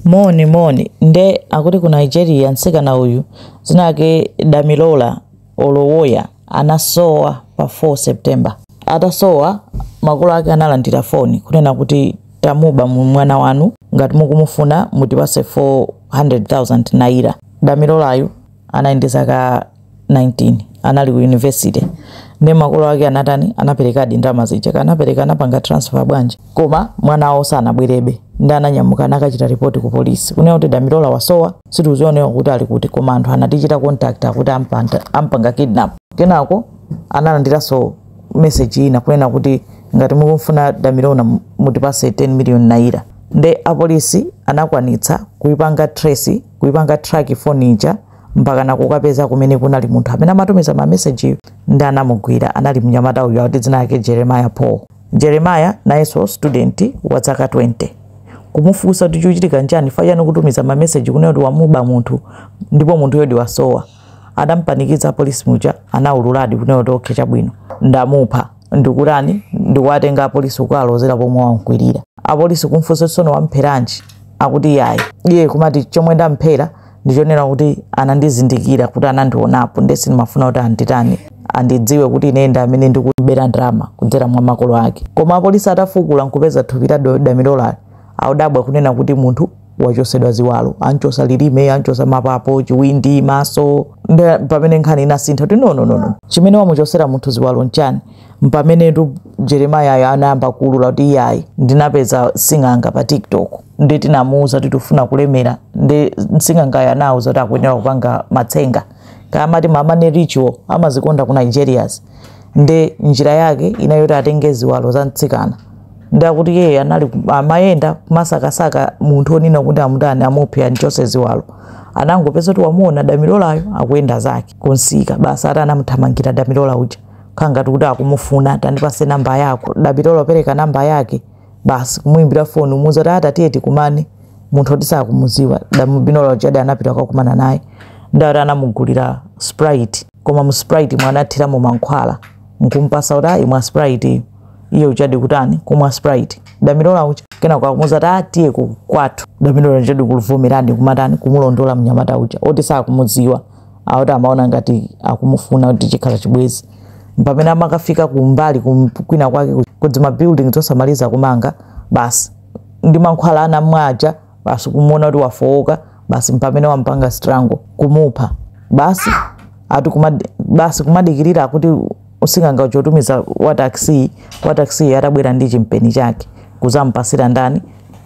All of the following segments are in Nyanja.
Moni moni nde akuti ku Nigeria mtsikana uyu dzina lake Damilola Olowoya anasowa pa 4 September. Atasowa makolo ake analandira foni kunena kuti tamuba mwana wanu ngati mukumufuna mutipase 400,000 naira. Damilolayu anali ndi zaka 19 anali ku university nde makolo ake anatani anaperekadi ndalama zija anapereka anapanga transfer bwanji koma mwana wawo sanabwerebe nde ananyamuka anakachita ripoti ku polisi kunena kuti damilola wasowa sitikuziwanso kuti ali kuti koma anthu anatichita contact akuti ampanda- ampanga kidnap kenako analandiranso message ina kunena kuti ngati mukumfuna damilola mutipase 10 million naira nde apolisi anakwanitsa kuipanga trace kuipanga track phone ija mpakana kukapeza kumene kunali munthu amene amatumiza ma message nde anamugwira anali mnyamata uyu akuti dzina lake Jeremiah Paul Jeremiah nayenso student wa zaka 20 kumufunsa kuti chikuchitika nchani chifukwa chani kutumiza ma message kunena kuti wamuba munthu ndipo munthuyodi wasowa atampanikiza apolisi muja anaululadi kunena kuti okay chabwino ndamupha ndikutani ndikuwatenga apolisi kukalozera pomwe wamkwirira apolisi kumfunsa tsono wampheranji akuti yayi iye kumati chomwe ndamphera ndichonena kuti anandizindikira kuti anandionapo nde sindimafuna kuti anditani andidziwe kuti ine ndi amene ndikubera ndalama kudzera mwa makolo ake koma apolisi atafukula nkupeza thupi la Do- damilola anadabwa kunena kuti munthu wachosedwa ziwalo anchosa lilime anchosa mapapo chiwindi maso nde pamene nkhani inasintha kuti no no no no chimene wamuchosera munthu ziwalo nchani mpamenetu Jeremiahyo anayamba kuulula kuti iyayi ndinapeza sing'anga pa tiktok nde tinamuuza kuti tikufuna kulemera nde sing'angayo anauza kuti akuyenera kupanga matsenga kaya amati ma money ritual amazikonda ku nigerias nde njira yake inali yoti atenge ziwalo za mtsikana nde akuti iyeyo anali ku- amayenda kumasakasaka munthu onena kuti amutani amuphe anchose ziwalo anangopeza kuti wamuona damilolayo akuyenda zake kunsika basi ati anamuthamangira damilola uja kukhala ngati kuti akumufuna tandipase namba yako damilola kupereka namba yake basi kumuimbira foni kumuuza kuti ata tiye tikumane munthu oti sakumuziwa damilola ujadi anapita kukakumana naye nde akuti anamugulira sprite koma mu sprite mo anathiramo mankhwala nkumpasa kuti imwa sprite iyo iye ujadi kutani kumwa sprite damilola uja kenako akumuuza kuti tiye ku- kwathu damilola ujadi kuvomera kumatani kumulondola mnyamata uja oti sakumuziwa akuti amaona ngati akumufuna kuti chikhala chibwezi mpamene amakafika kumbali kum- kwina kwake ku- kuzima building zosamaliza kumanga basi ndi mankhwala anamwa aja basi kumuona kuti wafowoka basi mpamene wampanga strangle kumupha basi ati kumad, basi kumadikirira akuti sing'anga uja atumiza wa taxi wa taxi atabwera ndi chimpeni chake kuzampasira ndani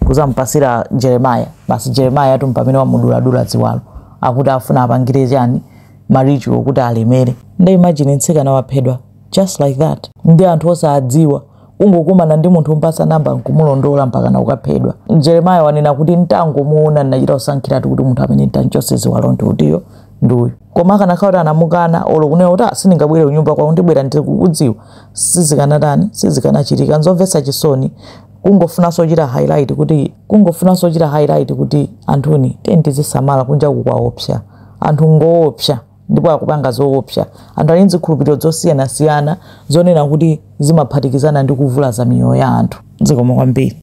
kuzampasira jeremaya basi jeremaya ntumpha amene wamuduladula ziwalo akuti afuna apangire chani ma ritual kuti alemere nde imagine mtsikana waphedwa just like that ndi anthu osadziwa ungokumana ndi munthu umpasa namba nkumulondola mpakana ukaphedwa jeremaya wanena kuti ntangomuona ndinachita kusankhiratu kuti munthu amene nditamchotse ziwalo ndi uyo ndi uyu koma akanakhala kuti anamukana olo kunena kuti "Ah, sindingabwere kunyumba kwako ndibwera ndikakudziwa sizikanatani sizikanachitika nzomvetsa chisoni kungofunanso kuchita highlight kuti kungofunanso kuchita highlight kuti anthuni tiyeni tizisamala kunja kuno kwaopsa anthu ngoopsa ndipo akupanga zoopsa anthu ali nzikhulupiriro zosiyanasiyana zonena kuti zimaphatikizana ndi kuvulaza miyoyo ya anthu zikomo kwambiri